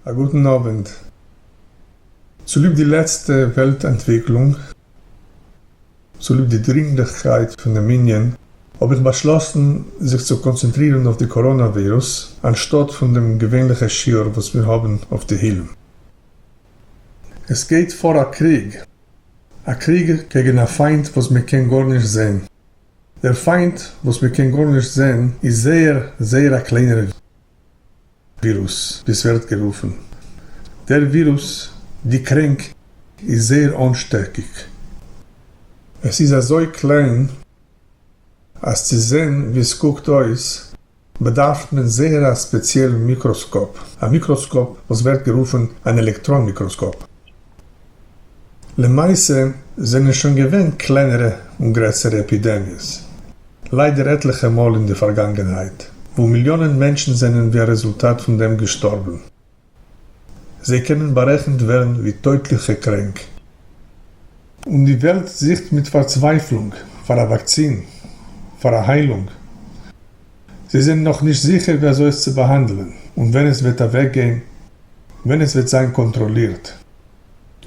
א גוטן אווענט. צוליב די לעצטע וועלט אנטוויקלונג, צוליב די דרינגליכקייט פון דעם ענין, האב איך באשלאסן זיך צו קאנצענטרירן אויף די קאראנא ווירוס, אנשטאט פון דעם געווענליכע שיעור וואס מיר האבן אויף תהילים. עס גייט פאר א קריג, א קריג קעגן א פיינט וואס מען קען גארנישט זען. דער פיינט וואס מען קען גארנישט זען איז זייער זייער א קליינער. ווירוס, ווי עס ווערט גערופן. דער ווירוס, די קרענק, איז זייער אנשטעקיג. עס איז אזוי קליין אז צו זען ווי עס קוקט אויס באדארף מען זייער א ספעציעלן מיקראסקאפ, א מיקראסקאפ וואס ווערט גערופן אן עלעקטראן מיקראסקאפ. למעשה זענען שוין געווען קלענערע און גרעסערע עפידעמיעס ליידער עטליכע מאל אין די פארגאנגענהייט וואו מיליאנען מענטשן זענען ווי א רעזולטאט פון דעם געשטארבן, זיי קענען בארעכנט ווערן ווי טויטליכע קרענק. און די וועלט זוכט מיט פארצווייפלונג פאר א וואקסין, פאר א היילונג. זיי זענען נאך נישט זיכער ווי אזוי עס צו באהאנדלען און ווען עס וועט אוועקגיין, ווען עס וועט זיין קאנטראלירט.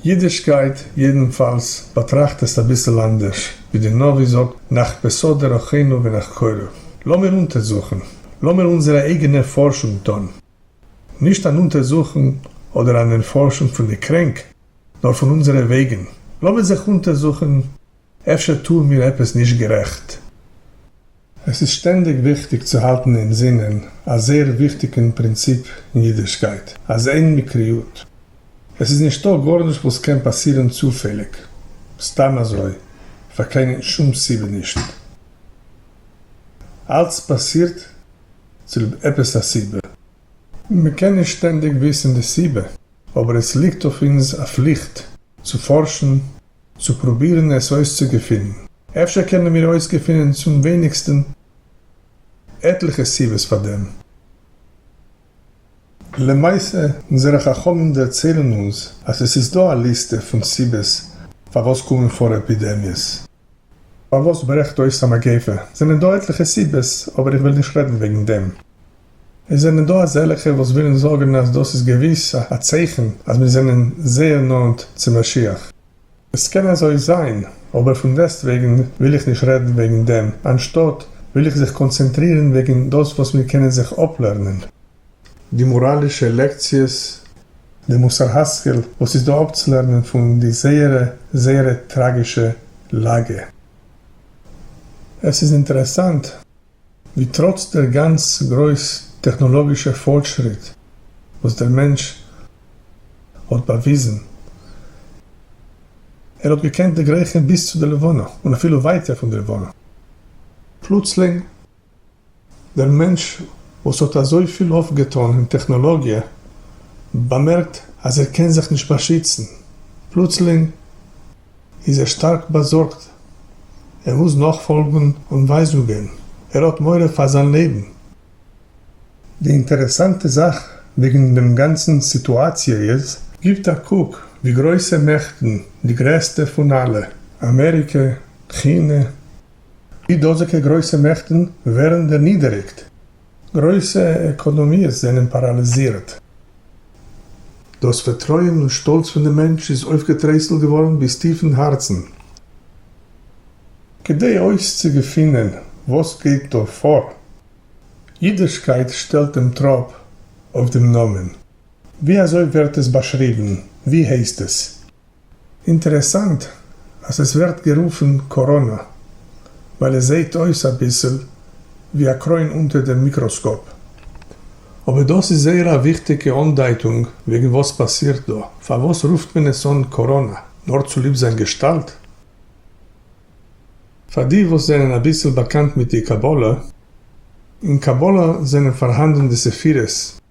אידישקייט יעדנפאלס באטראכט עס אביסל אנדערש, ווי די נביא זאגט נחפשה דרכינו ונחקורה, לאמיר אונטערזוכן, לאמיר אונזערע אייגענע פארשונג טון, נישט אן אונטערזוכן אדער אן ערפארשונג פון די קרענק, נאר פון אונזערע וועגן, לאמיר זיך אונטערזוכן. אפשר טוען מיר עפעס נישט גערעכט? עס איז שטענדיג וויכטיג צו האלטן אין זינען א זייער וויכטיגן פרינציפ אין אידישקייט, אז אין מקריות. עס איז נישטא גארנישט וואס קען פאסירן צופעליג, סתם אזוי, פאר קיין שום סיבה נישט. אלץ פאסירט צוליב עפעס א סיבה. מען קען נישט שטענדיג וויסן די סיבה. אבער עס ליגט אויף אונז א פליכט צו פארשן, צו פרובירן עס אויסצוגעפינען. אפשר קענען מיר אויסגעפינען צום ווייניגסטן עטליכע סיבות פאר דעם. למעשה, אונזערע חכמים דערציילן אונז אז עס איז דא א ליסטע פון סיבות פארוואס קומען פאר עפידעמיעס. פארוואס ברעכט אויס א מגיפה? זענען דא עטליכע סיבות, אבער איך וועל נישט רעדן וועגן דעם. עס זענען דא אזעלעכע וואס ווילן זאגן אז דאס איז געוויס א צייכן אז מיר זענען זייער נאנט צו משיח. עס קען אזוי זיין, אבער פון דעסטוועגן וויל איך נישט רעדן וועגן דעם, אנשטאט וויל איך זיך קאנצענטרירן וועגן דאס וואס מיר קענען זיך אפלערנען. די מאראלישע לעקציעס. די מוסר השכל וואס איז דא אפצולערנען פון די זייערע זייערע טראגישע לאגע. עס איז אינטערעסאנט. ווי טראץ דער גאנץ גרויס טעכנאלאגישע פארטשריט וואס דער מענטש האט באוויזן, ער האט געקענט דערגרייכן ביז צו דער לבנה און אפילו ווייטער פון דער לבנה, פלוצלינג, דער מענטש וואס האט אזויפיל אויפגעטאן אין טעכנאלאגיע, באמערקט אז ער קען זיך נישט באשיצן, פלוצלינג, איז ער שטארק באזארגט, ער מוז נאכפאלגן אנווייזונגען, ער האט מורא פאר זיין לעבן. די אינטערעסאנטע זאך וועגן דעם גאנצן סיטואציע איז. גיבט א קוק, די גרויסע מעכטן, די גרעסטע פון אלע, אמעריקע, כינע. די דאזיגע גרויסע מעכטן ווערן דערנידעריגט. גרויסע עקאנאמיעס זענען פאראליזירט. דאס פארטרויען און שטאלץ פון די מענטש איז אויפגעטרייסלט געווארן ביז טיף אין הארצן. כדי אויסצוגעפינען וואס גייט דא פאר, אידישקייט שטעלט דעם טראפ אויף דעם נאמען. ווי אזוי ווערט עס באשריבן? ווי הייסט עס? אינטערעסאנט אז עס ווערט גערופן קאראנא, ווייל עס זעהט אויס אביסל ווי א קרוין אונטער דעם מיקראסקאפ. אבער דאס איז זייער א וויכטיגע אנדייטונג וועגן וואס פאסירט דא. פארוואס רופט מען עס אן קאראנא? נאר צוליב זיין געשטאלט? פאר די וואס זענען אביסל באקאנט מיט די קבלה, אין קבלה זענען פארהאנדן די ספירות,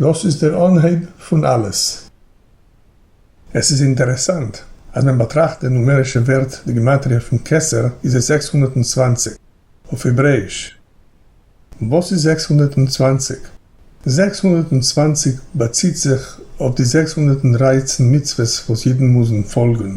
דאס איז דער אנהייב פון אלעס. עס איז אינטערעסאנט אז מען באטראכט די נומערישע ווערט די גימטריא פון כסר איז עס זעקס הונדערט און צוואַנציק אויף העברעאיש. וואס איז זעקס הונדערט און צוואַנציק? זעקס הונדערט און צוואַנציק באציט זיך אויף די זעקס הונדערט און דרײַצן מצוות וואס אידן מוזן פאלגן.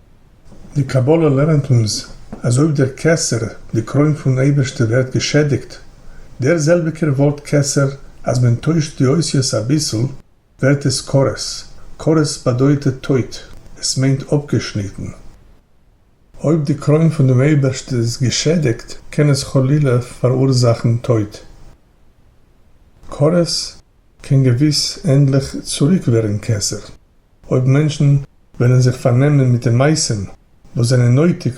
די קבלה לערנט אונז אז אויב דער כסר, די קרוין פון אייבערשטער ווערט געשעדיגט, דער זעלביגער ווארט כסר אז מען טוישט די אותיות אביסל ווערט עס כרת, כרת באדויטע טויט, עס מיינט אפגעשניטן. אויב די קרוין פון דעם אייבערשטער איז געשעדיגט קען עס חלילה פאראורזאכן טויט. כרת קען געוויס ענדליך צוריק ווערן כסר. אויב מענטשן וועלן זיך פארנעמען מיט די מעשים וואס זענען נויטיג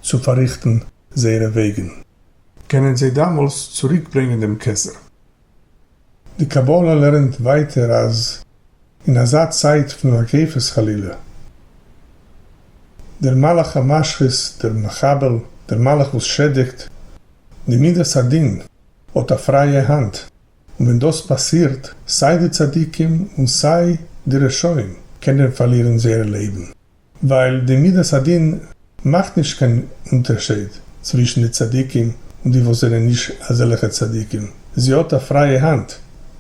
צו פארריכטן זייערע וועגן. קענען זיי דאמאלס צוריקברענגען דעם כתר. די קבלה לערנט ווייטער אז אין אזא צייט פון הקיפות חלילה, דער מלאך המשחית, דער מחבל, דער מלאך וואס שעדיגט, די מידת הדין האט א פרייע האנט. און ווען דאס פאסירט, סיי די צדיקים און סיי די רשעים קענען פארלירן זייער לעבן, ווייל די מדת הדין מאכט נישט קיין אונטערשייד צווישן די צדיקים און די וואס זענען נישט אזעלכע צדיקים, זי האט א פרייע האנט,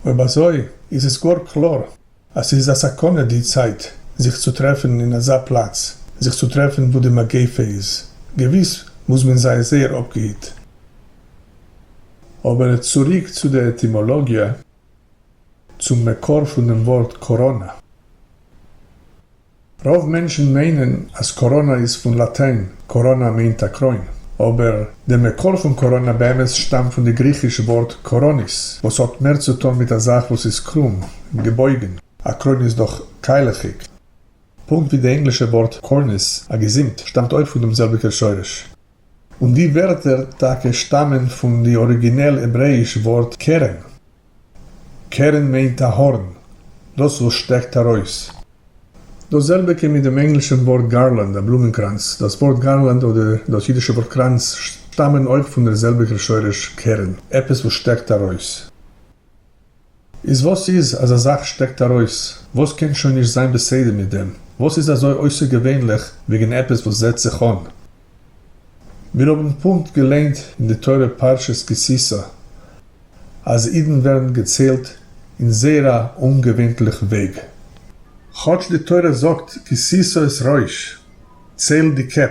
אויב אזוי איז עס גאר קלאר. אז ס'איז א סכנה די צייט זיך צו טרעפן אין אזא פלאץ, זיך צו טרעפן וואו די מגיפה איז, געוויס מוז מען זיין זייער אפגעהיט. אבער צוריק צו די עטימאלאגיע, צום מקור פונעם ווארט קאראנא. רוב מענטשן מיינען אז קאראנא איז פון לאטיין, קאראנא מיינט א קרוין, אבער די מקור פון קאראנא באמת שטאמט פון די גריכיש ווארט קאראניס וואס האט מער צו טון מיט א זאך וואס איז קרום, געבויגן, א קרוין איז דאך קיילעכיג. פונקט ווי די ענגלישע ווארט קארניס, א געזימט, שטאמט אויך פון דעם זעלביגער שורש. און די ווערטער טאקע שטאמען פון די אריגינעל העברעאיש ווארט קרן. קרן מיינט א הארן, דאס וואס שטעקט ארויס. דאס זעלביגע מיט דעם ענגלישן ווארט גארלענד, א בלומענקראנץ. דאס ווארט גארלענד אדער דאס אידישע ווארט קראנץ שטאמען אויך פון דער זעלביגער שורש קרן, עפעס וואס שטעקט ארויס. איז וואס איז אז א זאך שטעקט ארויס? וואס קען שוין נישט זיין בסדר מיט דעם? וואס איז אזוי אויסערגעווענליך וועגן עפעס וואס זעהט זיך אן? מיר האבן פונקט געליינט אין די תורה פרשת כי תשא אז אידן ווערן געציילט אין זייער א אומגעווענטליך וועג. כאטש די תורה זאגט כי תשא את ראש, צייל די קעפ.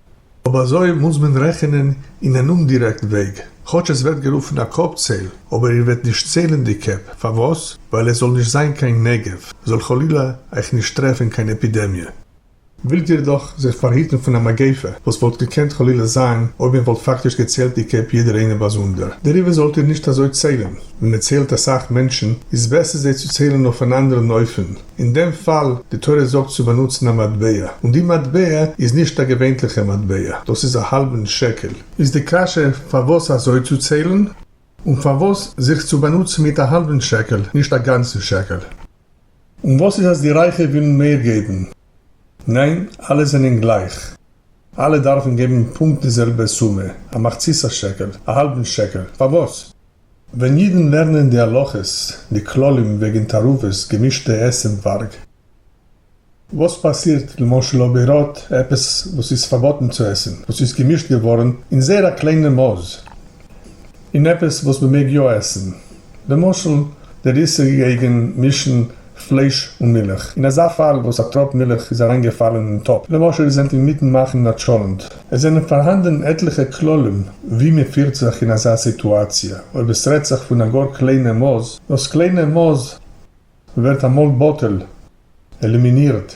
אויב אזוי מוז מען רעכענען אין אן אומדירעקטן וועג, כאטש עס ווערט גערופן א קאפ צעל, אבער איר וועט נישט צעלן די קעפ, פארוואס? ווייל עס זאל נישט זיין קיין נגף, זאל חלילה אייך נישט טרעפן קיין עפידעמיע. ווילט איר דאך זיך פארהיטן פון א מגיפה וואס וואלט געקענט חלילה זיין אויב מען וואלט פאקטיש געצעלט די קעפ יעדער איינער באזונדער, דעריבער זאלט איר נישט אזוי צעלן, ווען מען צעלט אסאך מענטשן איז בעסער זיי צו צעלן אויף אן אנדערן אופן, אין דעם פאל, די תורה זאגט צו באנוצן א מטבע, און די מטבע איז נישט א געווענטליכע מטבע, דאס איז א האלבן שקל, איז די קשיא פארוואס אזוי צו ציילן? און פארוואס זיך צו באנוצן מיט א האלבן שקל, נישט א גאנצן שקל? און וואס איז אז די רייכע ווילן מער געבן? ניין, אלע זענען גלייך, אלע דארפן געבן פונקט די זעלבע סומע, א מחצית השקל, א האלבן שקל, פארוואס? ווען אידן לערנען די הלכות, די כללים וועגן תערובות, געמישטע עסנווארג. וואס פאסירט למשל אויב איר האט עפעס וואס איז פארבאטן צו עסן, וואס איז געמישט געווארן אין זייער א קליינע מאס, אין עפעס וואס מ'מעג יא עסן, למשל דער איסור געגן מישן פלייש און מילך, אין אזא פאל וואס א טראפ מילך איז אריינגעפאלן אין טאפ, למשל איר זענט אינמיטן מאכן א טשולענט. עס זענען פארהאנדן עטליכע כללים ווי מען פירט זיך אין אזא סיטואציע, אויב עס רעדט זיך פון א גאר קליינע מאס, דאס קליינע מאס ווערט אמאל בטל, עלימינירט.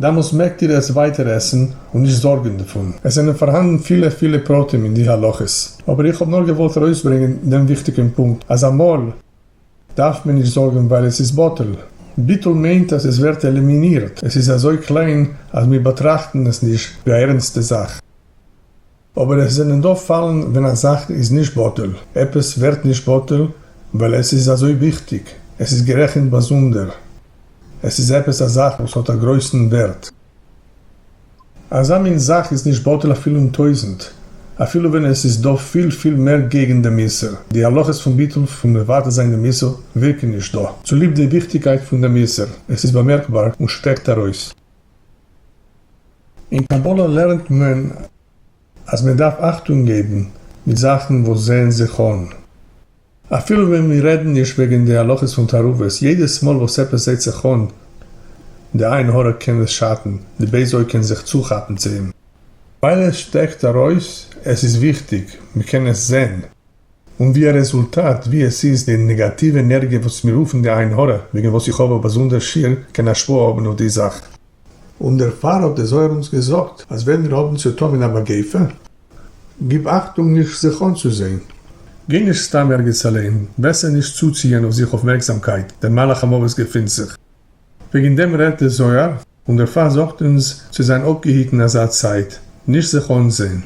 דעמאלס מעגט איר עס ווייטער עסן און נישט זארגען דערפון. עס זענען פארהאנדן פילע פילע פרטים אין די הלכות, אבער איך האב נאר געוואלט ארויסברענגען דעם וויכטיגען פונקט אז אמאל דארף מען נישט זארגען ווייל עס איז בטל, ביטול מיינט אז עס ווערט עלימינירט, עס איז אזוי קליין אז מיר באטראכטן עס נישט ווי א ערענסטע זאך. אבער עס זענען דא פאלן ווען א זאך איז נישט בטל, עפעס ווערט נישט בטל ווייל עס איז אזוי וויכטיג, עס איז גערעכנט באזונדער, עס איז עפעס א זאך וואס האט א גרויסן ווערט. אזא מין זאך איז נישט בטל אפילו אין טויזנט, אפילו ווען עס איז דא פיל פיל מער געגענט דעם איסור, די הלכות פון ביטול פון מבטל זיין דעם איסור ווירקן נישט דא, צוליב די וויכטיגקייט פון דעם איסור, עס איז באמערקבאר און שפעקט ארויס. אין קבלה לערנט מען אז מען דארף אכטונג געבן מיט זאכן וואס זעען זיך אן, אפילו ווען מיר רעדן נישט וועגן די הלכות פון תערובות, יעדעס מאל וואס עפעס זעט זיך אן, די עין הרע קען עס שאטן, די בייז אויג קען זיך צוכאפן צו אים, ווייל עס שטעקט ארויס, עס איז וויכטיג, מען קען עס זען. און ווי א רעזולטאט, ווי עס איז די נעגאטיווע ענערגיע וואס מיר רופן די עין הרע, וועגן וואס איך האב א באזונדער שיעור, קען השפעה האבן אויף די זאך. און דערפאר האט דער זוהר אונז געזאגט, אז ווען מיר האבן צו טון מיט א מגיפה, גיב אכטונג נישט זיך אנצוזעהן. גיי נישט סתם ערגעץ אליין, בעסער נישט צוציען אויף זיך אויפמערקזאמקייט, דער מלאך המוות געפינט זיך. וועגן דעם רעדט דער זוהר, און דערפאר זאגט אונז צו זיין אפגעהיטן אזא צייט, נישט זיך אנזעהן.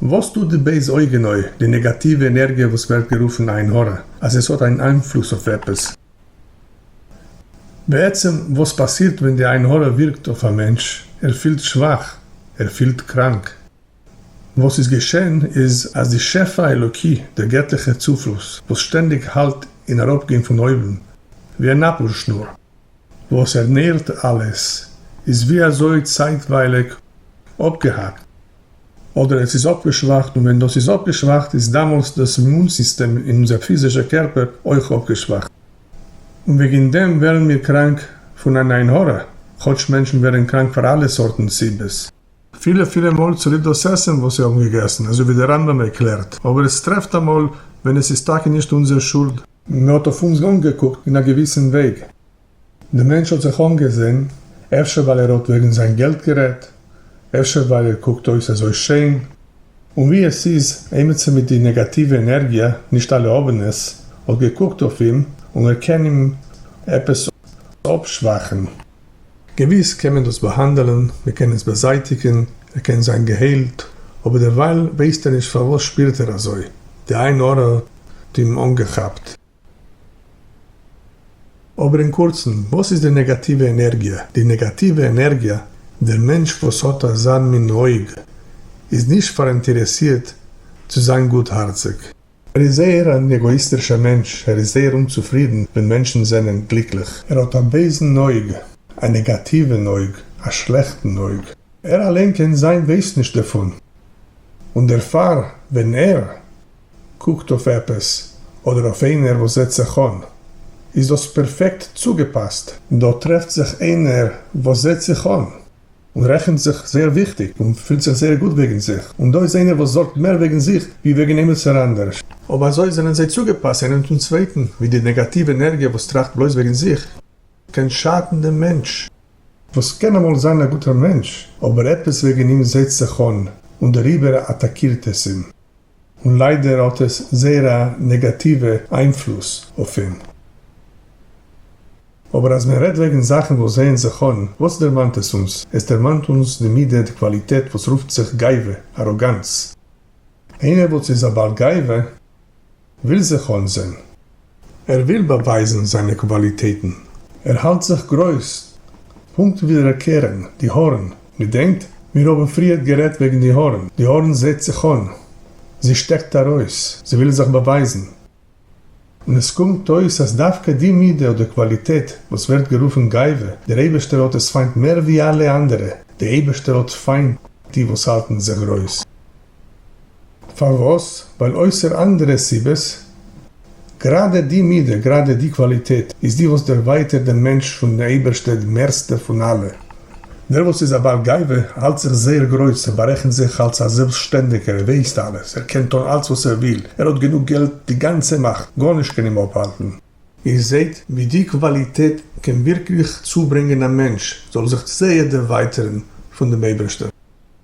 וואס טוט די בייז אויג אין אויער, די נעגאטיווע ענערגיע וואס ווערט גערופן עין הרע, אז עס האט אן איינפלוס אויף עפעס? בעצם וואס פאסירט ווען די עין הרע ווירקט אויף א מענטש, ער פילט שוואך, ער פילט קראנק. וואס איז געשען איז אז די שפע האלוקי, דער געטליכער צופלוס, וואס שטענדיג האלט אין אראפגיין פון אויבן, ווי א נאפלשנור, וואס ערנערט אלעס, איז ווי אזוי צייטווייליג אפגעהאקט, אדער עס איז אפגעשוואכט, און ווען דאס איז אפגעשוואכט איז דאמאלס דאס אימון סיסטעם אין אונזער פיזישע קערפער אויך אפגעשוואכט, און וועגן דעם ווערן מיר קראנק פון אן עין הרע, כאטש מענטשן ווערן קראנק פאר אלע סארטן סיבות. פילע פילע מאל צוליב דאס עסן וואס זיי האבן געגעסן, אזוי ווי דער רמב ם ערקלערט, אבער עס טרעפט אמאל ווען עס איז טאקע נישט אונזער שולד, מען האט אויף אונז אנגעקוקט אין א געוויסן וועג, דער מענטש האט זיך אנגעזען, אפשר ווייל ער האט וועגן זיין געלט גערעדט, אפשר ווייל ער קוקט אויס אזוי שיין, און ווי עס איז עימיצער מיט די נעגאטיווע ענערגיע, נישט אלע האבן עס, האט געקוקט אויף אים און ער קען אים עפעס אפשוואכן. געוויס קען מען דאס באהאנדעלן, מען קען עס באזייטיגן, ער קען זיין געהיילט, אבער דערווייל ווייסט ער נישט פארוואס שפירט ער אזוי, די עין הרע האט אים אנגעכאפט. אבער אין קורצן, וואס איז די נעגאטיווע ענערגיע? די נעגאטיווע ענערגיע, דער מענטש וואס האט אזא מין אויג, איז נישט פאראינטערעסירט צו זיין גוטהארציג. ער איז זייער אן עגאיסטירשער מענטש, ער איז זייער אומצופרידן ווען מענטשן זענען גליקליך. ער האט א בייזן אויג, א נעגאטיווען אויג, א שלעכטן אויג. ער אליין קען זיין ווייסט נישט דערפון, און דערפאר ווען ער קוקט אויף עפעס אדער אויף איינער וואס זעט זיך אן, איז דאס פערפעקט צוגעפאסט. דא טרעפט זיך איינער וואס זעט זיך אן. און רעכנט זיך זייער וויכטיג און פילט זיך זייער גוט וועגן זיך, און דא איז איינער וואס זארגט מער וועגן זיך ווי וועגן עמיצער אנדערש. אויב אזוי זענען זיי צוגעפאסט איינעם צום צווייטן, ווי די נעגאטיוו ענערגיע וואס טראכט בלויז וועגן זיך, קען שאטן דעם מענטש. וואס קען אמאל זיין א גוטער מענטש, אבער עפעס וועגן אים זעצט זיך אן, און דעריבער אטאקירט עס אים. און ליידער האט עס זייער א נעגאטיווע איינפלוס אויף אים. אבער אז מען רעדט וועגן זאכן וואס זעען זיך אן, וואס דערמאנט עס אונז? עס דערמאנט אונז די מידה, די קוואליטעט וואס רופט זיך גאווה, אראגאנץ. איינער וואס איז א בעל גאווה. וויל זיך אנזען. ער וויל באווייזן זיינע קוואליטעטן. ער האלט זיך גרויס. פונקט ווי ר' קרן, די הארן. געדענקט? מיר האבן פריערט גערעדט וועגן די הארן. די הארן זעהט זיך אן. זי שטעקט ארויס. זי וויל זיך באווייזן. און עס קומט אויס אז דווקא די מידה אדער קוואליטעט וואס ווערט גערופן גאווה, דער אייבערשטער האט עס פיינט מער ווי אלע אנדערע. די אייבערשטער האט פיינט די וואס האלטן זיך גרויס. פארוואס? ווייל אויסער אנדערע סיבות, גראדע די מידה, גראדע די קוואליטעט, איז די וואס דערווייטערט דעם מענטש פון די אייבערשטע די מערסטע פון אלע. דער וואס איז א בעל גאווה האלט זיך זייער גרויס, ער בארעכנט זיך אלס א זעלבסטשטענדיגער, ער ווייסט אלעס, ער קען טון אלס וואס ער וויל, ער האט גענוג געלט, די גאנצע מאכט, גארנישט קען אים אפהאלטן. איר זעט ווי די קוואליטעט קען ווירקליך צוברענגען א מענטש זאל זיך זייער דערווייטערן פון דעם אייבערשטער.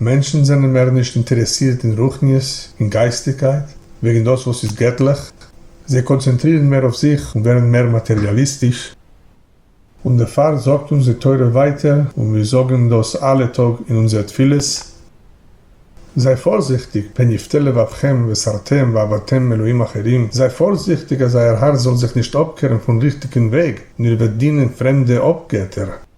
מענטשן זענען מער נישט אינטערעסירט אין רוחניות און גייסטיקייט, וועגן דאס וואס איז געטליך, זיי קאנצענטרירן מער אויף זיך און ווערן מער מאטעריאליסטיש, און דערפאר זאגט אונז די תורה ווייטער, און מיר זאגן דאס אלע טאג אין אונזער תפילות, זיי פארזיכטיג פן יפתה לבבכם וסרתם ועבדתם מאלוהים אחרים, זיי פארזיכטיג אז אייער הארץ זאל זיך נישט אפקערן פון ריכטיגן וועג, און איר וועט דינען פרעמדע אפגעטער.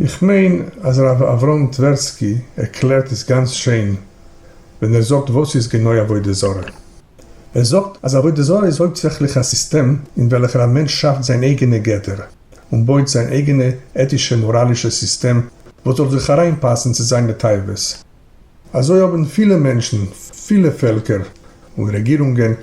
איך מיין אז הרב אברהם טווערסקי ערקלערט עס גאנץ שיין ווען ער זאגט וואס איז גענוי עבודה זרה. ער זאגט אז עבודה זרה איז הויפטזעכליך א סיסטעם אין וועלכער א מענטש שאפט זיין אייגענע גדר און בויט זיין אייגענע עטישע מאראלישע סיסטעם וואס זאל זיך אריינפאסן צו זיינע תאוות. אזוי האבן פילע מענטשן, פילע פעלקער און רעגירונגען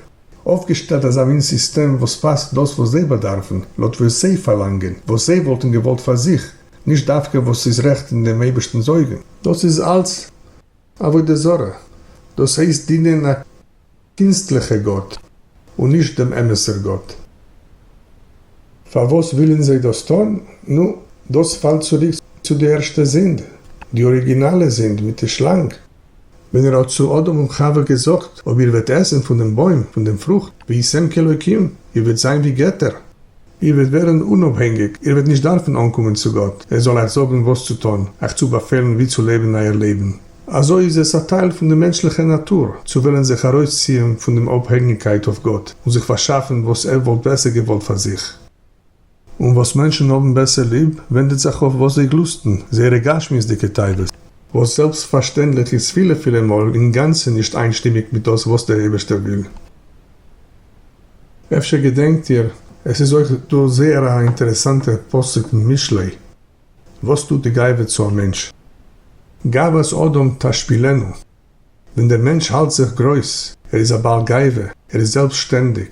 אויפגעשטעלט אזא מין סיסטעם וואס פאסט דאס וואס זיי באדארפן, לויט וואס זיי פארלאנגען, וואס זיי וואלטן געוואלט פאר זיך, נישט דווקא וואס איז רעכט אין דעם אייבערשטנ'ס אויגן. דאס איז אלץ עבודה זרה, דאס הייסט דינען א קינסטליכע גאט און נישט דעם אמת'ער גאט. פארוואס ווילן זיי דאס טון? נו, דאס פאלט צוריק צו די ערשטע זינד, די אריגינאלע זינד מיט די שלאנג. ווען ער האט צו אדם און חוה געזאגט, אויב איר וועט עסן פון דעם בוים, פון דעם פרוכט, והייתם כאלוקים, איר וועט זיין ווי געטער, איר וועט ווערן אונאפהענגיק, איר וועט נישט דארפן אנקומען צו גאט ער זאל אייך זאגן וואס צו טון, אייך צו באפעלן ווי צו לעבן אייער לעבן. אזוי איז עס א טייל פון די מענטשליכע נאטור צו וועלן זיך ארויסציען פון דעם אפהענגיקייט אויף גאט און זיך פארשאפן וואס ער וואלט בעסער געוואלט פאר זיך. און וואס מענטשן האבן בעסער ליב, ווענדעט זיך אויף וואס זיי גלוסטן, זייערע גשמיות'דיגע תאוות. וואס זעלבסטפארשטענדליך איז פילע פילע מאל אינגאנצן נישט איינשטימיג מיט דאס וואס דער אייבערשטער וויל. אפשר געדענקט איר, עס איז אויך דא זייער א אינטערעסאנטער פסוק אין משלי, וואס טוט די גאווה צו א מענטש? גאוות אדם תשפילנו, ווען דער מענטש האלט זיך גרויס, ער איז א בעל גאווה, ער איז זעלבסטשטענדיג.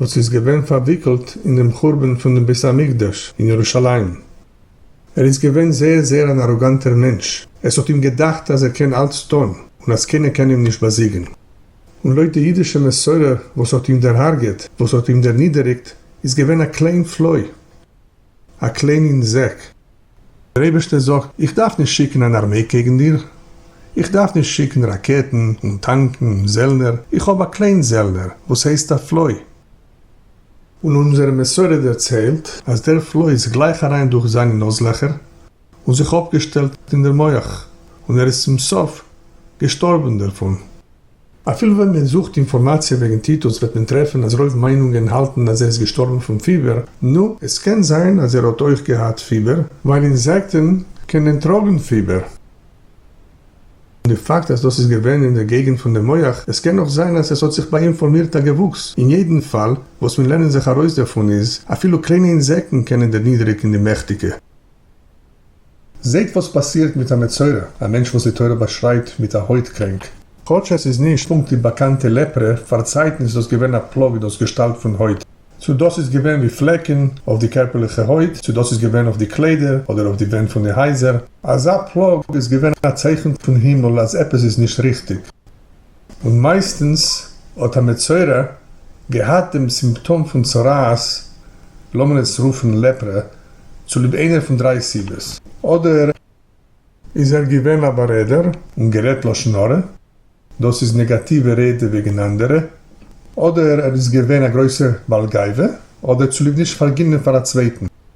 וואס איז געווען פארוויקלט אין דעם חורבן פון דעם בית המקדש אין ירושלים. ער איז געווען זייער זייער אן אראגאנטער מענטש, עס האט אים געדאכט אז ער קען אלץ טון און אז קיינער קען אים נישט באזיגן. און לויט די אידישע מסורה וואס האט אים דערהארגעט, וואס האט אים דערנידעריגט, איז געווען א קליין פלוי. א קלענין זעק. דער אייבערשטער זאגט, איך דארף נישט שיקן אן ארמעי קעגן דיר, איך דארף נישט שיקן ראקעטן און טאנקן און זעלנער, איך האב א קליין זעלנער וואס הייסט א פלוי. און אונזערע מסורה דערציילט אז דער פלוי איז גלייך אריין דורך זיינע נאז לעכער. און זיך אפגעשטעלט אין דער מח, און ער איז צום סוף געשטארבען דערפון. אפילו ווען מען זוכט אינפארמאציע וועגן טיטוס וועט מען טרעפען אז רוב מיינונגען האלטען אז ער איז געשטארבען פון פיבער, נו, עס קען זיין אז ער האט אויך געהאט פיבער, ווייל אינזעקטען קענען טראגען פיבער. און די פאקט אז דאס איז געווען אין דער געגענט פון דעם מח, עס קען נאך זיין אז עס האט זיך ביי אים פארמירט א געוואוקס, אין יעדען פאל, וואס מען לערנען זיך ארויס דערפון איז, אפילו קליינע אינזעקטען קענען דערנידעריגען די מעכטיגע. זעט וואס פאסירט מיט א מצורע, א מענטש וואס די תורה באשרייבט מיט א הויט קרענק. כאטש עס איז נישט פונקט די באקאנטע לעפרע, פארצייטן איז דאס געווען א פלאג דאס געשטאלט פון הויט. צו דאס איז געווען ווי פלעקן אויף די קערפערליכע הויט, צו דאס איז געווען אויף די קליידער אדער אויף די ווענט פון די הייזער. אזא פלאג איז געווען א צייכן פון הימל אז עפעס איז נישט ריכטיג. און מייסטנס האט א מצורע געהאט דעם סימפטאם פון צרעת, לאמיר עס רופן לעפרע, צוליב איינער פון דריי סיבות. אדער איז ער געווען א בארעדער און גערעדט לשון הרע, דאס איז נעגאטיווע רעדע וועגן אנדערע, אדער ער איז געווען א גרויסער בעל גאווה, אדער צוליב נישט פארגינען פאר א צווייטן.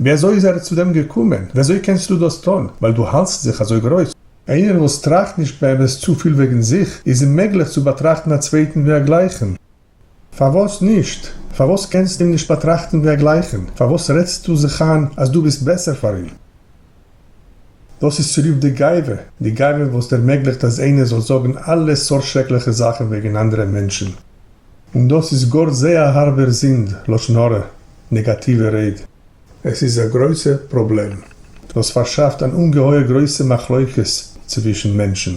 ווי אזוי איז ער צו דעם געקומען? ווי אזוי קענסטו דאס טון ווייל דו האלטסט זיך אזוי גרויס? איינער וואס טראכט נישט באמת צופיל וועגן זיך, איז אוממעגליך צו באטראכטן א צווייטן ווי א גלייכן. פארוואס נישט? פארוואס קענסטו אים נישט באטראכטן ווי א גלייכן? פארוואס רעדסטו זיך איין אז דו ביסט בעסער פאר אים? דאס איז צוליב די גאווה, די גאווה וואס ערמעגליכט אז איינער זאל זאגן אלע סארט שרעקליכע זאכן וועגן אנדערע מענטשן, און דאס איז גאר זעה א הארבער זינד, לשון הרע, נעגאטיווע רייד. עס איז א גרויסע פראבלעם וואס פארשאפט אן אומגעהויער גרויסע מחלוקת צווישן מענטשן.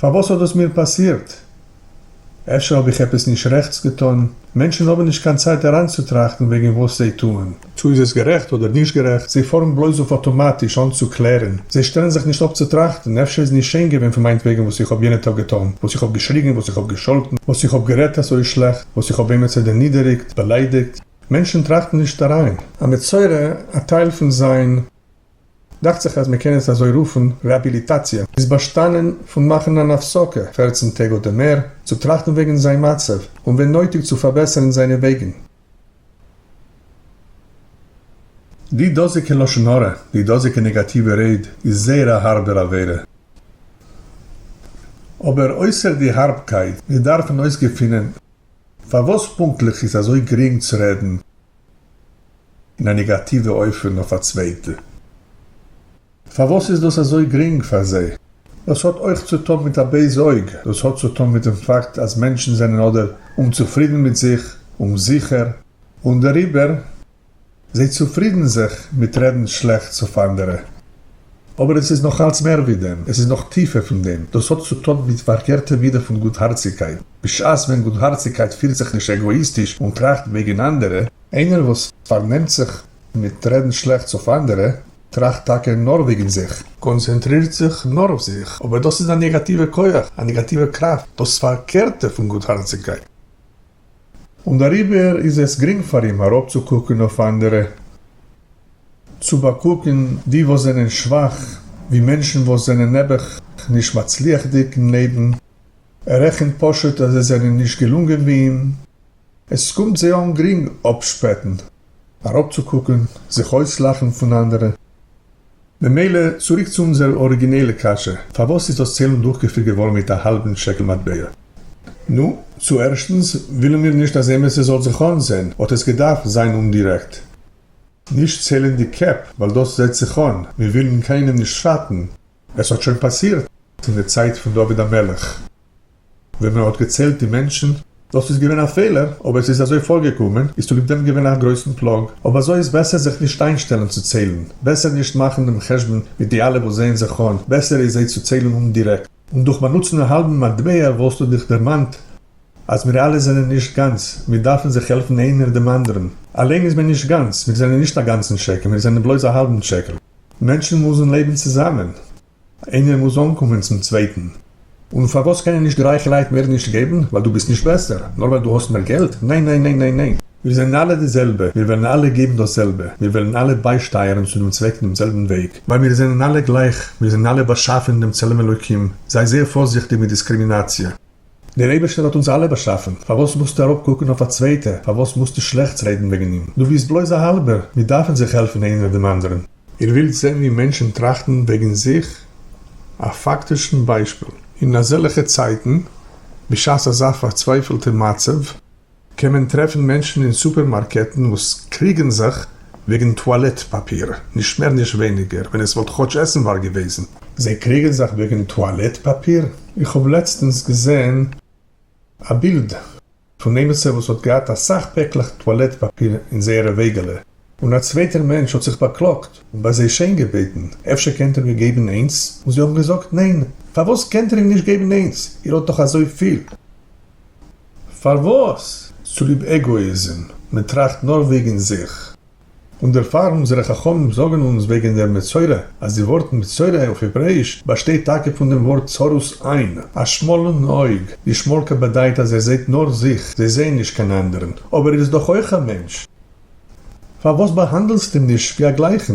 פארוואס האט דאס מיר פאסירט? אפשר האב איך עפעס נישט רעכטס געטון? מענטשן האבן נישט קיין צייט אריינצוטראכטן וועגן וואס זיי טוען. צו איז עס גערעכט אדער נישט גערעכט, זיי פארן בלויז אויף אטאמאטיש אן צו קלערן. זיי שטעלן זיך נישט אפ צו טראכטן, אפשר איז נישט שיין געווען פון מיינטוועגן וואס איך האב יענע טאג געטון, וואס איך האב געשריגן, וואס איך האב געשאלטן, וואס איך האב גערעדט אזוי שלעכט, וואס איך האב עימיצער דערנידעריגט, באליידיגט. מענטשן טראכטן נישט אריין. א מצורע, א טייל פון זיין. דאכט זיך אז מען קען עס אזוי רופן, רעהביליטאציע איז באשטאנען פון מאכן אן הפסקה פֿערצן טעג אדער מער, צו טראכטן וועגן זיין מצב, און ווען נויטיג צו פארבעסערן זיינע וועגן. די דאזיגע לשון הרע, די דאזיגע נעגאטיווע רייד, איז זייער א הארבער עבירה. אבער אויסער די הארבקייט, מיר דארפן אויסגעפינען פארוואס פונקטליך איז אזוי גרינג צו רעדן. אין א נעגאטיווע אופן אויף א צווייטע. פארוואס איז דאס אזוי גרינג פאר זיי? דאס האט אויך צו טון מיט א בייזע אויג, דאס האט צו טון מיט דעם פאקט אז מענטשן זענען אדער אומצופרידן מיט זיך, אומזיכער, און דעריבער זיי צופרידן זיך מיט רעדן שלעכטס אויף אנדערע. אבער עס איז נאך אלץ מער ווי דעם, עס איז נאך טיפער פון דעם, דאס האט צו טון מיט פארקערטע מידה פון גוטהארציגקייט, בשעת ווען גוטהארציגקייט פירט זיך נישט עגאאיסטיש און טראכט וועגן אנדערע, איינער וואס פארנעמט זיך מיט רעדן שלעכטס אויף אנדערע, טראכט טאקע נאר וועגן זיך, קאנצענטרירט זיך נאר אויף זיך, אבער דאס איז א נעגאטיווע כח, א נעגאטיווע קראפט, דאס פארקערטע פון גוטהארציגקייט. און דעריבער איז עס גרינג פאר אים אראפצוקוקן אויף אנדערע, צו באקוקן די וואס זענען שוואך, ווי מענטשן וואס זענען נעבעך נישט מצליח'דיג אין לעבן, ער רעכנט פשוט אז זיי זענען נישט געלונגען ווי אים, עס קומט זיי אן גרינג אפשפעטן, אראפצוקוקן, זיך אויסלאכן פון אנדערע. ממילא, צוריק צו אונזער אריגינעלע קשיא, פארוואס איז דאס ציילונג דורכגעפירט געווארן מיט א האלבן שקל מטבע? נו, צו ערשטנס, ווילן מיר נישט אז עימיצער זאל זיך אנזעהן, האט עס געדארפט זיין אומדירעקט. נישט ציילן די קעפ, ווייל דאס זעהט זיך אן, מיר ווילן קיינעם נישט שאטן. עס האט שוין פאסירט אין די צייט פון דוד המלך. ווען מען האט געציילט די מענטשן. דאס איז געווען א פעלער, אבער עס איז אזוי פארגעקומען, איז צוליב דעם געווען א גרויסן פלאג. אויב אזוי איז בעסער זיך נישט איינשטעלן צו ציילן, בעסער נישט מאכן דעם חשבון מיט די אלע וואס זעען זיך אן, בעסער איז זיי צו ציילן אומדירעקט. און דורך באנוצן א האלבן מטבע וואלסטו דיך דערמאנט אז מיר אלע זענען נישט גאנץ, מיר דארפן זיך העלפן איינער דעם אנדערן. אליין איז מען נישט גאנץ, מיר זענען נישט א גאנצן שקל, מיר זענען בלויז א האלבן שקל. מענטשן מוזן לעבן צוזאמען. איינער מוז אנקומען צום צווייטן. און פארוואס קענען נישט די רייכע לייט מער נישט געבן? ווייל דו ביסט נישט בעסער? נאר ווייל דו האסט מער געלט? ניין ניין ניין ניין ניין! מיר זענען אלע די זעלבע, מיר וועלן אלע געבן דאס זעלבע, מיר וועלן אלע ביישטייערן צו דעם צוועק דעם זעלבן וועג, ווייל מיר זענען אלע גלייך, מיר זענען אלע באשאפן אין דעם צלם אלוקים, זיי זייער פארזיכטיג מיט דיסקרימינאציע. דער אייבערשטער האט אונז אלע באשאפען, פארוואס מוזטו אראפ קוקען אויף א צווייטע, פארוואס מוזטו שלעכטס רעדען וועגען אים, דו ביסט בלויז א האלבער, מיר דארפען זיך העלפען איינער דעם אנדערען. איר ווילט זעהן ווי מענטשען טראכטען וועגען זיך? א פאקטישען ביישפיל, אין אזעלעכע צייטען, בשעת אזא פארצווייפעלטע מצב, קען מען טרעפן מענטשן אין סופערמארקעטן וואס קריגן זיך וועגן טואלעט פאפיר, נישט מער נישט ווייניגער, ווען עס וואלט כאטש עסנוואר געוועזן. זיי קריגן זיך וועגן טואלעט פאפיר? איך האב לעצטענס געזען א בילד פון עימיצער וואס האט געהאט אסאך פעקלעך טואלעט פאפיר אין זייערע וועגעלע, און א צווייטער מענטש האט זיך באקלאגט און ביי זיי שיין געבעטן אפשר קענט איר מיר געבן איינס, און זיי האבן געזאגט ניין, פארוואס קענט איר אים נישט געבן איינס, איר האט דאך אזויפיל. פארוואס? צוליב עגאאיזם, מען טראכט נאר וועגן זיך. און דערפאר אונזערע חכמים זאגן אונז וועגן דער מצורע, אז די ווארט מצורע אויף העברעאיש באשטייט טאקע פון דעם ווארט צרות עין, א שמאלן אויג, די שמאלקע באדייט אז ער זעהט נאר זיך, זיי זעהן נישט קיין אנדערן, אבער ער איז דאך אויך א מענטש. פארוואס באהאנדלסטו אים נישט ווי א גלייכן?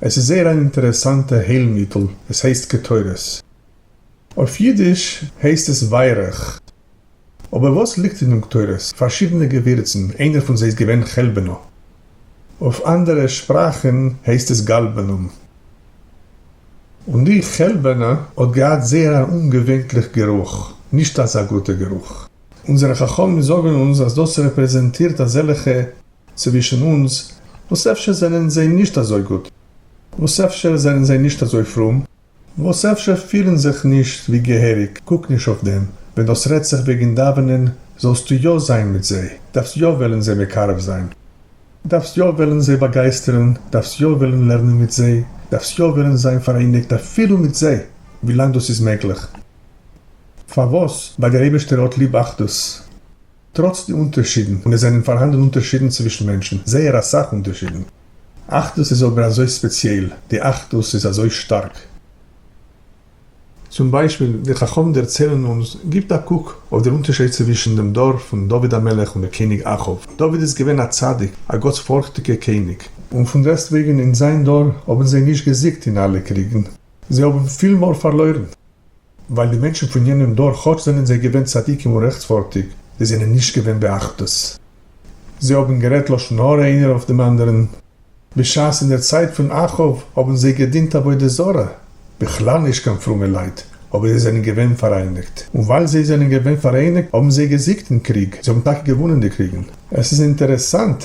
עס איז זייער אן אינטערעסאנטע היילמיטל, עס הייסט קטורת. אויף אידיש הייסט עס ווייערעך. אבער וואס ליגט אין דעם קטורת? פארשידענע געווירצן, איינער פון זיי איז געווען חלבנא. אויף אנדערע שפראכן הייסט עס גאלבענום. און די חלבנא האט געהאט זייער אן אומגעווענטליך גערוך, נישט אזא גוטע גערוך. אונזערע חכמים זאגן אונז אז דאס רעפרעזענטירט אזעלכע. צווישן אונז, וואס אפשר זענען זיי נישט אזוי גוט, וואס אפשר זענען זיי נישט אזוי פרום, וואס אפשר פירן זיך נישט ווי געהעריג, קוק נישט אויף דעם, ווען דאס רעדט זיך וועגן דאווענען, זאלסטו יא זיין מיט זיי, דארפסט יא וועלן זיי מקרב זיין, דארפסט יא וועלן זיי באגייסטערן, דארפסט יא וועלן לערנען מיט זיי, דארפסט יא וועלן זיין פאראייניגט אפילו מיט זיי, ווילאנג דאס איז מעגליך. פארוואס? ווייל דער אייבערשטער האט ליב אחדות. טראָץ די אונטערשידן, און עס זענען פאַרהאַנדן אונטערשידן צווישן מענטשן, זייער אַ סך אונטערשידן. אחדות איז אָבער אַזוי ספּעציעל, די אחדות איז אַזוי שטאַרק. צום ביישפיל, די חכמים דערציילן אונז, גיבט אַ קוק אויף דער אונטערשייד צווישן דעם דור פון דוד המלך און דער קעניג אחאב. דוד איז געווען אַ צדיק, אַ גאָטספאָרכטיקער קעניג. און פון דעסטוועגן אין זיין דור האָבן זיי נישט געזיגט אין אַלע קריגן, זיי האָבן פיל מאָל פאַרלוירן. ווייל די מענטשן פון יענעם דור כאטש זענען זיי געווען צדיקים און רעכטפארטיג, זיי זענען נישט געווען באחדות, זיי האבן גערעדט לשון הרע איינער אויף דעם אנדערן, בשעת אין דער צייט פון אחאב האבן זיי געדינט עבודה זרה, בכלל נישט קיין פרומע לייט, אבער זיי זענען געווען פאראייניגט, און ווייל זיי זענען געווען פאראייניגט האבן זיי געזיגט אין קריג, זיי האבן טאקע געוואונען די קריגן, עס איז אינטערעסאנט.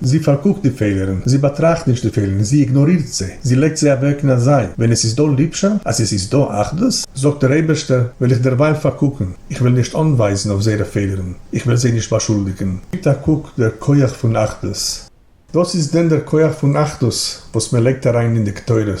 זי פארקוקט די פעלערן, זי באטראכט נישט די פעלערן, זי איגנארירט זיי, זי לייגט זיי אוועק אין א זייט, ווען עס איז דא ליבשאפט, אז עס איז דא אחדות, זאגט דער אייבערשטער, וועל איך דערווייל פארקוקן, איך וועל נישט אנווייזן אויף זייערע פעלערן, איך וועל זיי נישט באשולדיגן. גיבט א קוק דער כח פון אחדות. וואס איז דען דער כח פון אחדות וואס מען לייגט אריין אין די קטורת?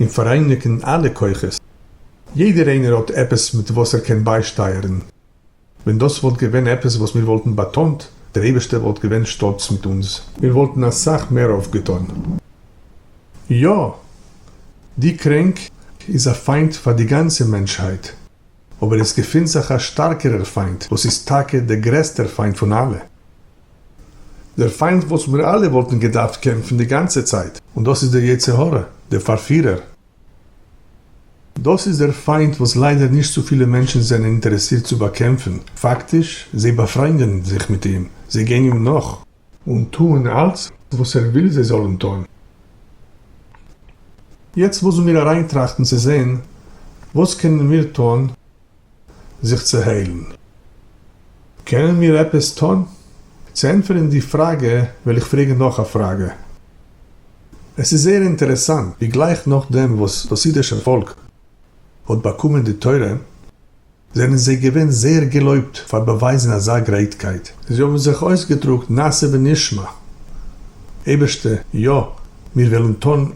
און פאראייניגן אלע כוחות. יעדער איינער האט עפעס מיט וואס ער קען ביישטייערן. ווען דאס וואלט געווען עפעס וואס מיר וואלטן באטאנט, דער אייבערשטער וואלט געווען שטאלץ מיט אונז. מיר וואלטן אסאך מער אויפגעטון. יא! די קרענק איז א פיינט פאר די גאנצע מענטשהייט, אבער עס געפינט זיך א שטארקערער פיינט וואס איז טאקע דער גרעסטער פיינט פון אלע, דער פיינט וואס מיר אלע וואלטן געדארפט קעמפן די גאנצע צייט. און דאס איז דער יצר הרע, דער פארפירער. דאס איז דער פיינט וואס ליידער נישט צו פילע מענטשן זענען אינטערעסירט צו באקעמפן, פאקטיש, זיי באפריינדען זיך מיט אים, זיי גיין אים נאך. און טוען אלץ וואס ער וויל זיי זאלן טון. יעצט מוזן מיר אריינטראכטן צו זען וואס קענען מיר טון. זיך צו היילן. קענען מיר עפעס טון? צו ענטפערן די פראגע וועל איך פרעגן נאך א פראגע. עס איז זייער אינטערעסאנט ווי גלייך נאכדעם וואס דאס אידישער פאלק האט באקומען די תורה, זענען זיי געווען זייער געלויבט פאר באווייזן אזא גרייטקייט. זיי האבן זיך אויסגעדרוקט נעשה ונשמע, אייבערשטער, יא, מיר וועלן טון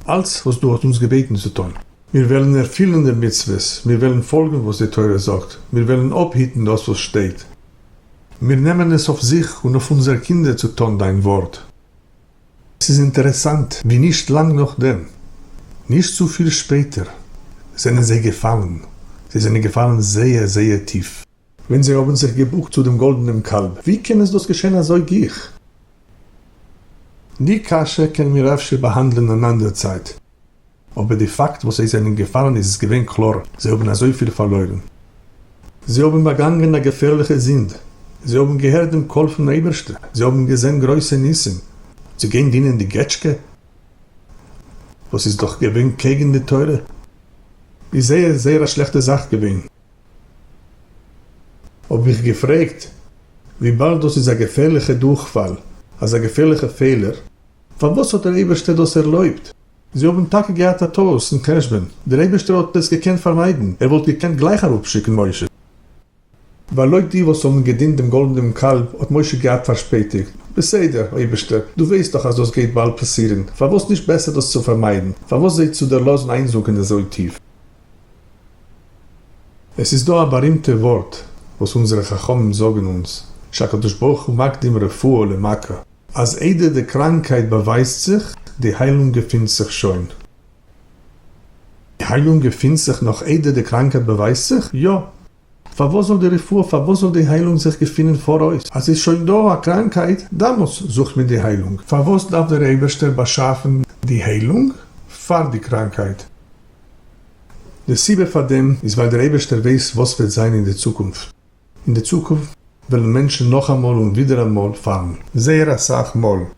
אלץ וואס דו האסט אונז געבעטן צו טון. מיר וועלן ערפילען די מצוות, מיר וועלן פאלגען וואס די תורה זאגט, מיר וועלן אפהיטן דאס וואס שטייט. מיר נעמען עס אויף זיך און אויף אונזער קינדער צו טון דיין ווארט. עס איז אינטערעסאנט ווי נישט לאנג נאכדעם, נישט צופיל שפעטער, זענען זיי געפאלן, זיי זענען געפאלן זייער זייער טיף. ווען זיי האבן זיך געבוקט צו דעם גאלדענעם קאלב, ווי קען עס דאס געשען אזוי גיך? די קשיא קענען מיר אפשר באהאנדלען אן אנדער צייט, אבער די פאקט וואס זיי זענען געפאלן איז עס געווען קלאר, זיי האבן אזויפיל פארלוירן. זיי האבן באגאנגען א געפערליכע זינד, זיי האבן געהערט דעם קול פון אייבערשטער, זיי האבן געזען גרויסע ניסים, צו גיין דינען די געטשקע וואס איז דאך געווען קעגן די תורה, איז זייער זייער א שלעכטע זאך געווען. האב איך געפרעגט, וויבאלד דאס איז א געפערליכע דורכפאל, אזא געפערליכע פעלער, פארוואס האט דער אייבערשטער דאס ערלויבט? זיי האבן טאקע געהאט א טעות אין חשבון, דער אייבערשטער האט עס געקענט פארמיידן, ער וואלט געקענט גלייך אראפשיקן משה, ווייל לויט די וואס האבן געדינט דעם גאלדענעם קאלב האט משה געהאט פארשפעטיגט, בסדר, אייבערשטער, דו ווייסט דאך אז דאס גייט באלד פאסירן, פארוואס נישט בעסער דאס צו פארמיידן, פארוואס זיי צו דערלאזן איינזונקען אזוי טיף? עס איז דא א בארימטע ווארט וואס אונזערע חכמים זאגן אונז, שהקדוש ברוך הוא מקדים רפואה למכה, אז איידער די קראנקייט באווייזט זיך, די היילונג געפינט זיך שוין. די היילונג געפינט זיך נאך איידער די קראנקייט באווייזט זיך? יא! פארוואס זאל די רפואה, פארוואס זאל די היילונג זיך געפינען פאראויס? אז ס'איז שוין דא א קראנקייט, דאמאלס זוכט מען די היילונג. פארוואס דארף דער אייבערשטער באשאפן די היילונג פאר די קראנקייט? די סיבה פאר דעם איז ווייל דער אייבערשטער ווייס וואס וועט זיין אין די צוקונפט. אין די צוקונפט וועלן מענטשן נאכאמאל און ווידעראמאל פאלן. זייער אסאך מאל.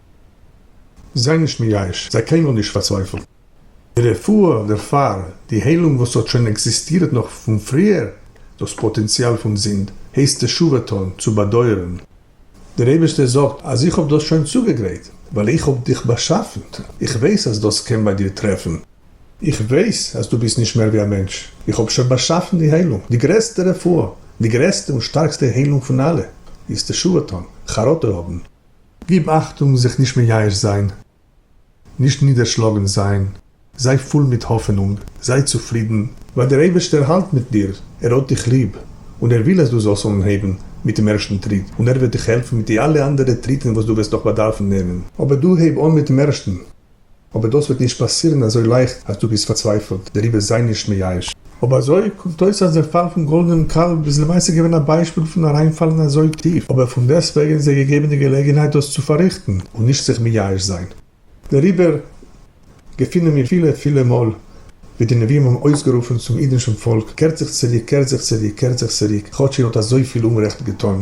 זיי נישט מייאש, זיי קיינמאל נישט פארצווייפלט. די רפואה דערפאר, די היילונג וואס האט שוין עקזיסטירט נאך פון פריער, דאס פאטענציאל פון זינד, הייסט תשובה טון, צו באדויערן. דער אייבערשטער זאגט אז איך האב דאס שוין צוגעגרייט, ווייל איך האב דיך באשאפן, איך ווייס אז דאס קען ביי דיר טרעפן, איך ווייס אז דו ביסט נישט מער ווי א מענטש, איך האב שוין באשאפן די היילונג, די גרעסטע רפואה, די גרעסטע און שטארקסטע היילונג פון אלע, איז תשובה טון, חרטה האבן. גיב אכטונג זיך נישט מייאש זיין, נישט נידערשלאגן זיין, זיי פול מיט האפענונג, זיי צופרידן, ווייל דער אייבערשטער האלט מיט דיר, ער האט דיך ליב, און ער וויל אז דו זאלסט אנהייבן מיט דעם ערשטן טריט, און ער וועט דיך העלפן מיט די אלע אנדערע טריטן וואס דו וועסט נאך באדארפן נעמען. אבער דו הייב אן מיט'ן ערשטן. אבער דאס וועט נישט פאסירן אזוי לייכט אז דו ביסט פארצווייפלט דעריבער זיי נישט מייאש. אויב אזוי קומט אויס אז דער פאל פון גאלדענעם קאלב איז למעשה געווען א ביישפיל פון אריינפאלן אזוי טיף, אבער פונדעסטוועגן איז ער געגעבן די געלעגנהייט דאס צו פארריכטן און נישט זיך מייאש זיין. דעריבער געפינען מיר פילע פילע מאל ווי די נביאים האבן אויסגערופן צום אידנשן פאלק, קערט זיך צוריק, קערט זיך צוריק, קערט זיך צוריק, כאטש איר האט אזויפיל אומרעכט געטאן.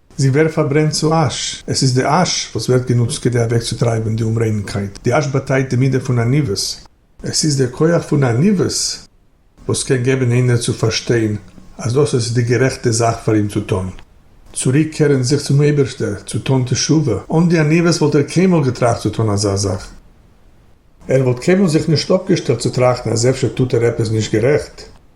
זי ווערט פארברענט צו אש, עס איז די אש וואס ווערט גענוצט כדי אוועקצוטרייבען די אומריינקייט, די אש באטייט די מידה פון עניוות, עס איז די כח פון עניוות וואס קען געבען איינער צו פארשטיין אז דאס איז די גערעכטע זאך פאר אים צו טון, צוריק קערען זיך צום אייבערשטער, צו טון תשובה, אן די עניוות וואלט ער קיינמאל געטראכט צו טון אזא זאך, ער וואלט קיינמאל זיך נישט אפגעשטעלט צו טראכטן אז אפשר טוט ער עפעס נישט גערעכט.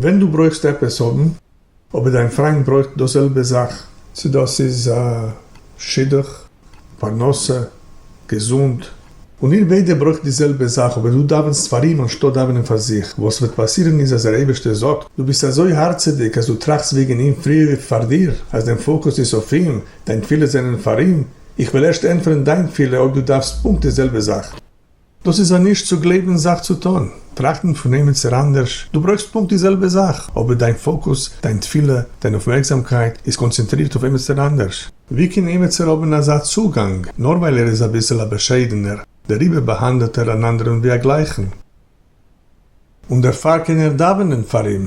ווען דו ברויכסט עפעס האבן אבער דיין פריינט ברויכט דאס זעלבע זאך, צו דאס איז א שידוך, פרנסה, געזונט, און איר ביידע ברויכט די זעלבע זאך אבער דו דאווענסט פאר אים אנשטאט דאווענען פאר זיך, וואס וועט פאסירן איז אז דער אייבערשטער זאגט, דו ביסט אזוי הארצעדיג אז דו טראכסט וועגן אים פריער ווי פאר דיר, אז דיין פאוקוס איז אויף אים, דיין תפילות זענען פאר אים, איך וועל ערשט ענטפערן דיין תפילה אויב דו דארפסט פונקט די זעלבע זאך. דאס איז א נישט צו גלייבן זאך צו טון, טראכטן פון עמיצער אנדערש, דו ברויכסט פונקט די זעלבע זאך, אבער דיין פאקוס, דיין תפילה, דיין אויפמערקזאמקייט איז קאנצענטרירט אויף עמיצער אנדערש. ווי קען עמיצער האבן אזא צוגאנג, נאר ווייל ער איז אביסל א באשיידענער, דעריבער באהאנדעלט ער אן אנדערן ווי א גלייכן, און דערפאר קען ער דאווענען פאר אים?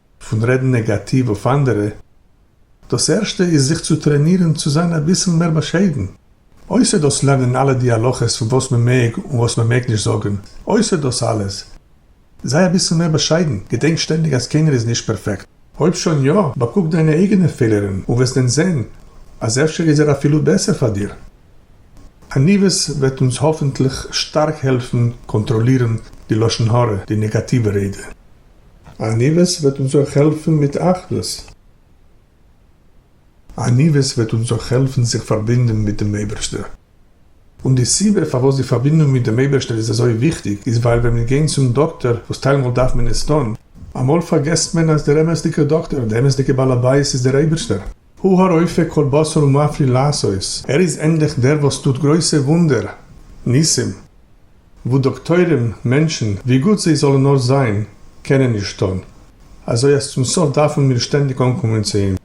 פון רעדן נעגאטיוו אויף אנדערע, דאס ערשטע איז זיך צו טרענירן צו זיין אביסל מער באשיידן, אויסער דאס לערנען אלע די הלכות פון וואס מען מעג און וואס מען מעג נישט זאגן, אויסער דאס אלעס, זיי אביסל מער באשיידן, געדענק שטענדיג אז קיינער איז נישט פערפעקט, אויב שוין יא, באקוק דיינע אייגענע פעלערן און וועסט דען זען אז אפשר איז ער אפילו בעסער פאר דיר. עניוות וועט אונז האפענטליך שטארק העלפן קאנטראלירן די לשון הרע, די נעגאטיווע רעדע. עניוות וועט אונז אויך העלפן מיט אחדות. עניוות וועט אונז אויך העלפן זיך פארבינדן מיט דעם אייבערשטער. און די סיבה פארוואס די פארבינדונג מיט דעם אייבערשטער איז אזוי וויכטיג איז ווייל ווען מיר גייען צום דאקטער, וואס טיילמאל דארף מען עס טון, אמאל פארגעסט מען אז דער אמת'דיגער דאקטער, די אמת'דיגע בעל הבית איז דער אייבערשטער. הוא הרופא כל בשר ומפליא לעשות, ער איז ענדליך דער וואס טוט גרויסע וואונדער, ניסים, וואס דאקטוירים, מענטשן, ווי גוט זיי זאלן נאר זיין, קענען נישט טון, אזוי אז צום סוף דארפן מיר שטענדיג אנקומען צו אים.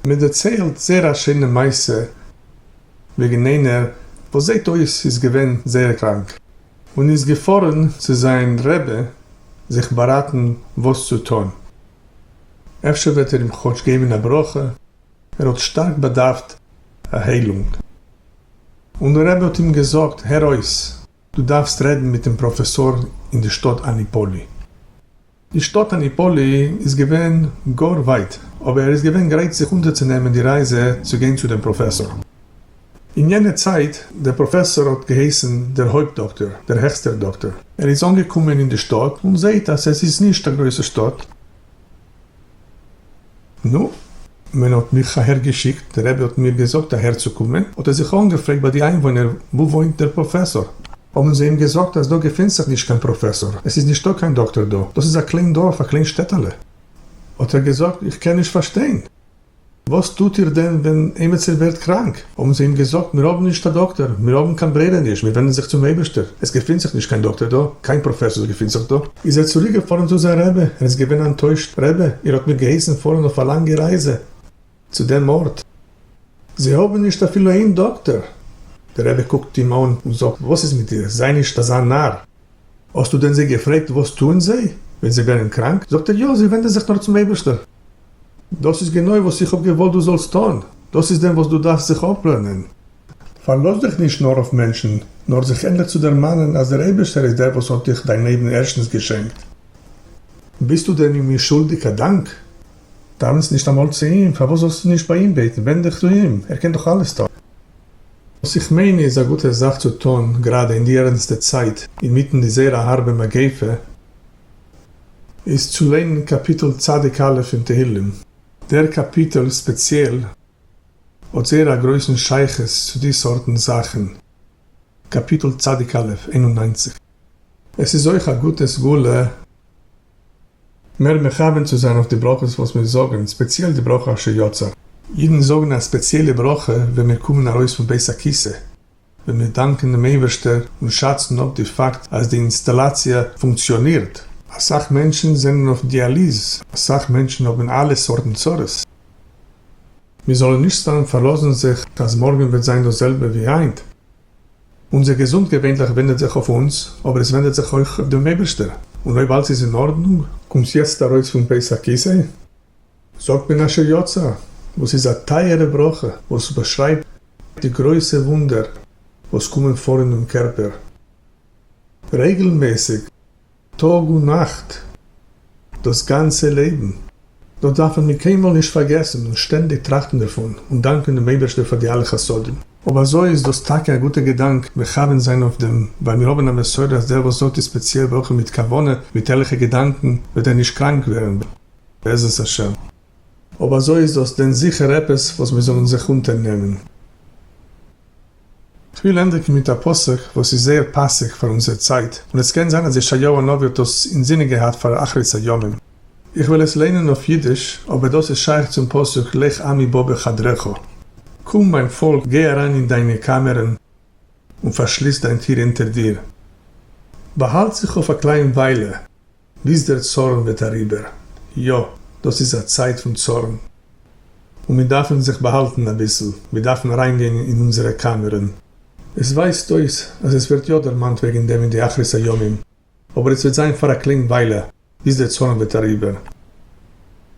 מען דערציילט זייער א שיינע מעשה וועגן איינער וואס זעט אויס איז געווען זייער קראנק, און איז געפארן צו זיין רבי זיך באראטן וואס צו טון, אפשר וועט ער אים כאטש געבן א ברכה, ער האט שטארק באדארפט א היילונג. און דער רבי האט אים געזאגט, הער אויס, דו דארפסט רעדן מיט דעם פראפעסאר אין די שטאט אניפאלי. די שטאט אניפאלי איז געווען גאר ווייט, אבער ער איז געווען גרייט זיך אונטערצונעמען די רייזע צו גיין צו דעם פראפעסאר. אין יענע צייט, דער פראפעסאר האט געהייסן דער הויפט דאקטער, דער העכסטער דאקטער. ער איז אנגעקומען אין די שטאט און זעהט אז עס איז נישט א גרויסע שטאט. נו, מען האט מיך אהערגעשיקט, דער רבי האט מיר געזאגט אהערצוקומען, האט ער זיך אנגעפרעגט ביי די איינוואוינער, וואו וואוינט דער פראפעסאר? האבן זיי אים געזאגט אז דא געפינט זיך נישט קיין פראפעסאר, עס איז נישטא קיין דאקטער דא, דאס איז א קליין דארף, א קליין שטעטעלע. האט ער געזאגט, איך קען נישט פארשטיין. וואס טוט איר דען ווען עימיצער ווערט קראנק? האבן זיי אים געזאגט, מיר האבן נישט א דאקטער, מיר האבן קיין ברירה נישט, מיר ווענדן זיך צום אייבערשטער, עס געפינט זיך נישט קיין דאקטער דא, קיין פראפעסאר געפינט זיך דא. איז ער צוריק געפארן צו זיין רבי, ער איז געווען אנטוישט, רבי, איר האט מיר געהייסן פארן אויף א לאנגע רייזע צו דעם ארט, זיי האבן נישט אפילו איין דאקטער! דער רבי קוקט אים אן און זאגט, וואס איז מיט דיר, זיי נישט אזא נאר, האסטו דען זיי געפרעגט וואס טוען זיי ווען זיי ווערן קראנק? זאגט ער יא, זיי ווענדן זיך נאר צום אייבערשטער. דאס איז גענוי וואס איך האב געוואלט דו זאלסט טון, דאס איז דען וואס דו דארפסט זיך אפלערנען. פארלאז דיך נישט נאר אויף מענטשן, נאר זיך ענדליך צו דערמאנען אז דער אייבערשטער איז דער וואס האט דיך דיין לעבן ערשטנס געשענקט. ביסטו דען אים נישט שולדיג א דאנק? טאנץ נישט אמאל צו אים, פארוואס זאלסטו נישט ביי אים בעטן, ווענד דיך צו אים, ער קען דאך אלעס טון. וואס איך מיין איז א גוטע זאך צו טון גראדע אין די ערענסטע צייט אינמיטן די זייער הארבע מגיפה איז צו ליינען קאפיטל צדיק א' אין תהילים. דער קאפיטל ספעציעל האט זייער א גרויסן שייכות צו די סארטן זאכן, קאפיטל צדיק א' איין און נײַנציק. עס איז אויך א גוטע סגולה. מער מכוון צו זיין אויף די ברכות וואס מיר זאגן, ספעציעל די ברכה אשר יצר. אידן זאגן א ספעציעלע ברכה ווען מיר קומען ארויס פון בית הכיסא, ווען מיר דאנקען דעם אייבערשטער און שאצן אפ די פאקט אז די אינסטאלאציע פונקציאנירט. אסאך מענטשן זענען אויף דיאליז, אסאך מענטשן האבן אלע סארטן צרות. מיר זאלן נישט סתם פארלאזן זיך אז מארגן וועט זיין דאס זעלבע ווי היינט. אונזער געזונט געווענליך ווענדעט זיך אויף אונז, אבער עס ווענדעט זיך אויך אויף דעם אייבערשטער, און אויב אלץ איז אין ארדנונג, קומסט יעצט ארויס פון פסח כיסא, זאגט מען אשר יצא, וואס איז א טייערע ברכה וואס באשרייבט די גרויסע וואונדער וואס קומען פאר אינעם קערפער רעגלמעסיג. טאג און נאכט, דאס גאנצע לעבן, דאס דארפן מיר קיינמאל נישט פארגעסן און שטענדיג טראכטן דערפון און דאנקען דעם אייבערשטער פאר די אלע חסדים. אויב אזוי איז דאס טאקע א גוטע געדאנק מכוון זיין אויף דעם, ווייל מיר האבן א מסורה אז דער וואס זאגט די ספעציעל ברכה מיט כוונה, מיט ערליכע געדאנקן, וועט ער נישט קראנק ווערן בעזרת השם. אויב אזוי איז דאס דען זיכער עפעס וואס מיר זאלן זיך אונטערנעמען? כ'וויל ענדיגן מיט א פסוק וואס איז זייער פאסיג פאר אונזער צייט, און עס קען זיין אז ישעיהו הנביא האט דאס אינזינען געהאט פאר אחרית הימים. איך וועל עס ליינען אויף אידיש, אבער דאס איז שייך צום פסוק לך עמי בא בחדרך, קום מיין פאלק גיי אריין אין דיינע קאמערן און פארשליס דיין טיר אונטער דיר, באהאלט זיך אויף א קליין וויילע. ביז דער צאָרן װעט אַריבער. יאָ, דאָס איז אַ צײַט פֿון צאָרן, און מיר דאַרפֿן זיך באַהאַלטן אַ ביסל, מיר דאַרפֿן אַרײַנגײן אין אונדזערע קאַמערן. עס װײַזט אױס, אַז עס װערט יאָ דערמאַנט װעגן דעם אין די אַחרית-הימים, אָבער עס װעט זײַן פֿאַר אַ קלענ װײַלע, ביז דער צאָרן װעט אַריבער.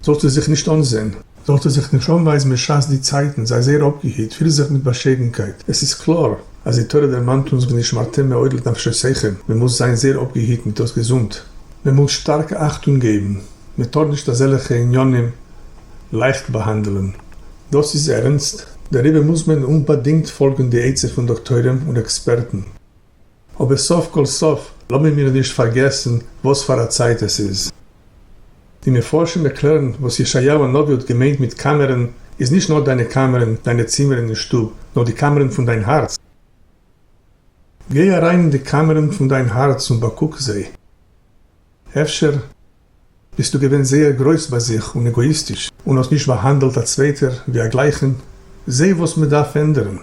זאָלט איר זיך נישט אָנזען, זאָלט איר זיך נישט אָנווײַזן בשעת די צײַטן, זײַ זייער אָפּגעהיט, פֿיר זיך מיט באַשיידנקייט. עס איז קלאָר, אַז די תּורה דערמאַנט אונז ונשמרתם מאוד לנפֿשותיכם, מען מוז זײַן זייער אָפּגעהיט מיט דאָס געזונט, מען מוז שטאַרק אַכטונג געבן, מען טאָר נישט אַזעלכע ענינים לײַכט באַהאַנדלען. דאָס איז ערנסט, דעריבער מוז מען אומבאַדינגט פֿאָלגן די עצה פֿון דאָקטוירים און עקספּערטן. אבער סוף כל סוף לאמיר מיר נישט פארגעסן וואס פאר א צייט עס איז. די מפרשים ערקלערן וואס ישעיהו הנביא האט געמיינט מיט קאמערען איז נישט נאר דיינע קאמערען, דיינע צימערען אין שטוב, נאר די קאמערען פון דיין הארץ. גיי אריין אין די קאמערען פון דיין הארץ און באקוק זיי. אפשר. ביסטו געווען זייער גרויס ביי זיך און עגאאיסטיש און האסט נישט באהאנדלט א צווייטער ווי א גלייכן, זע וואס מען דארף ענדערן.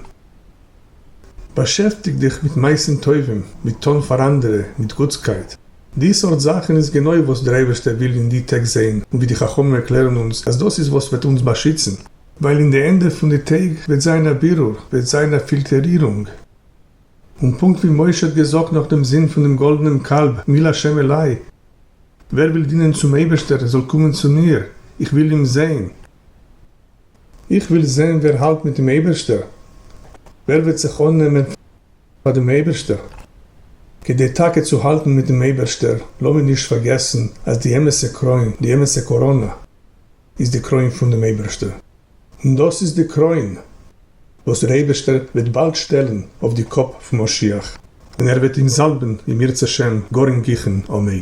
באשעפטיג דיך מיט מעשים טובים, מיט טון פאר אנדערע, מיט גוטסקייט. די סארט זאכן איז גענוי וואס דער אייבערשטער וויל אין די טעג זען, און ווי די חכמים ערקלערן אונז אז דאס איז וואס וועט אונז באשיצן, ווייל אין די ענדע פון די טעג וועט זיין א בירור, וועט זיין א פילטערירונג. און פונקט ווי משה האט געזאגט נאך דעם זון פון דעם גאלדענעם קאלב, מי לה' אלי, ווער וויל דינען צום אייבערשטער זאל קומען צו מיר, איך וויל אים זען. איך וויל זען ווער האלט מיט דעם אייבערשטער, ווער וועט זיך אננעמען פאר דעם אייבערשטער. כדי טאקע צו האלטן מיט דעם אייבערשטער, לאמיר נישט פארגעסן אז די אמת'ע קרוין, די אמת'ע קאראנע, איז די קרוין פון דעם אייבערשטער, און דאס איז די קרוין וואס דער אייבערשטער וועט באלד שטעלן אויף די קאפ פון משיח, און ער וועט אים זאלבן אם ירצה שם גאר אינגיכן, אמן.